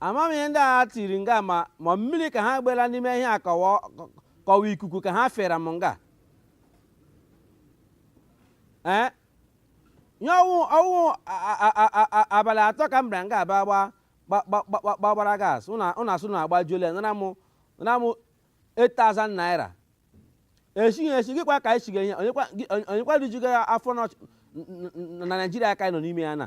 ama m ihe ndị a tiri nga ma ma mmiri ka ha gbela n'ime ihe a ka ọ wụ ka ọ wụ ikuku ka ha fere m nga ee ihe ọ wụ ọ wụ a- a- a- a- a- abalị atọ ka m bịara nga a bịa gba gba- gba- gba- gba- gbagbara gas ụna ụna sị na agbajuola ya nara m nara m 8000 naira esighị esighịkwa ka anyị siga ihe onyekwa gị- onye- onyekwa rijuga ya afọ n'ọch- n- n- n- na naijiria ka anyị nọ n'ime ya na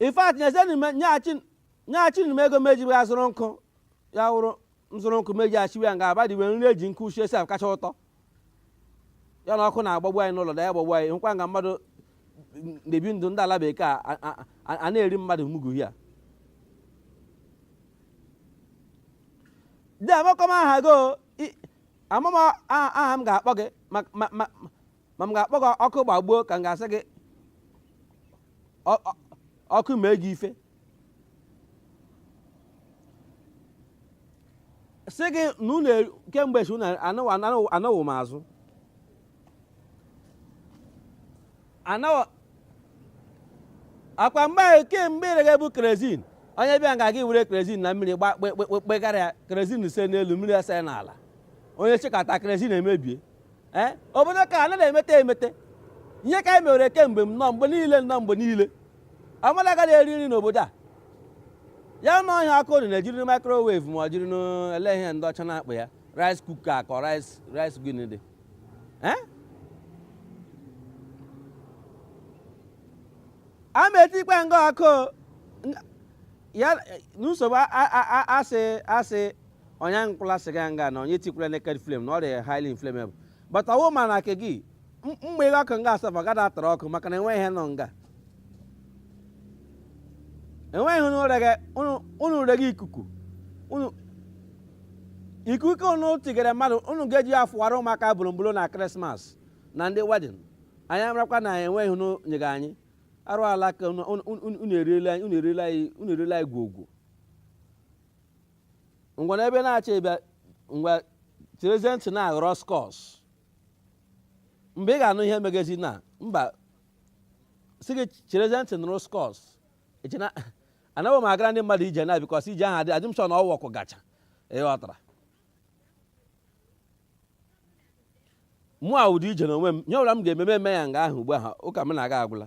in fact nyeghachiri m ego m eji ya zụrụ nkụ ya wụrụ m zụrụ nkụ m eji esiwe ya nga abadiwe nri eji nkụ shie esikacha ụtọ ya na ọkụ na-agbagbu anyị n'ụlọ na ya gbagbu anyị hụkwa nga mmadụ na-ebi ndụ ndị ala bekee a na-eri mmadụ mugu ya dị amakwa m aha gị ama m aha m ga-akpọ gị ma m ga-akpọ gị ọkụ gbagbuo ka m ga-asị gị ọkụ mee gị ife sị gị na unu kemgbe chi unu anọwo m azụ anọwo akwa mgbe ahụ kemgbe i regabu kerezin onye bịa nga gị were kerezin na mmiri gbakpekpekpegara ya kerezin ese n'elu mmiri ese n'ala onye sikata kerezin emebie ee obodo ka a na-emete emete ihe ka anyị mewere kemgbe m nọ mgbe niile nọ mgbe niile mmadụ agaghị eri nri n'obodo a ya na ọhịa aka ori na-ejiri microwave ma ọ jiri olee ihe ndị ọcha na-akpọ ya rice cooker ka ọ rice rice gịnị dị ee a ma etikwa nga ọkụ ya na nsogbu asị asị onye akwụla sịga nga na onye etikwala naked flame na ọ rị highly inflammable but ọ wụ ma na nke gị mgbe ihe ọkụ nga gas adị atara ọkụ maka na enweghị ihe nọ nga enweghị ihe unu rege unu- unu rege ikuku unu ikuku unu tigere mmadụ unu ga-eji ya fụwara ụmụaka bolombolo na krismas na ndị wedin anyị amarakwa na enweghị ihe unu nyere anyị arụ ala ka unu- unu unu- unu eriela anyị unu eriela anyị unu eriela anyị gwogwo ngwanụ ebe ị na-achọ ịbịa ngwa cherezie ntị nụrụ skọs mgbe ị ga-anụ ihe megezi na mba si gị cherezie ntị nụrụ skọs anaghị m agara ndị mmadụ ije na bikọs ije ahụ adị adị m sure na ọ wụ ọkụ gacha ị ghọtara mụwa ụdị ije na onwe m ihe ọbụla m ga-eme m eme ya nga ahụ ugbu ahụ ụka m na-aga agwụla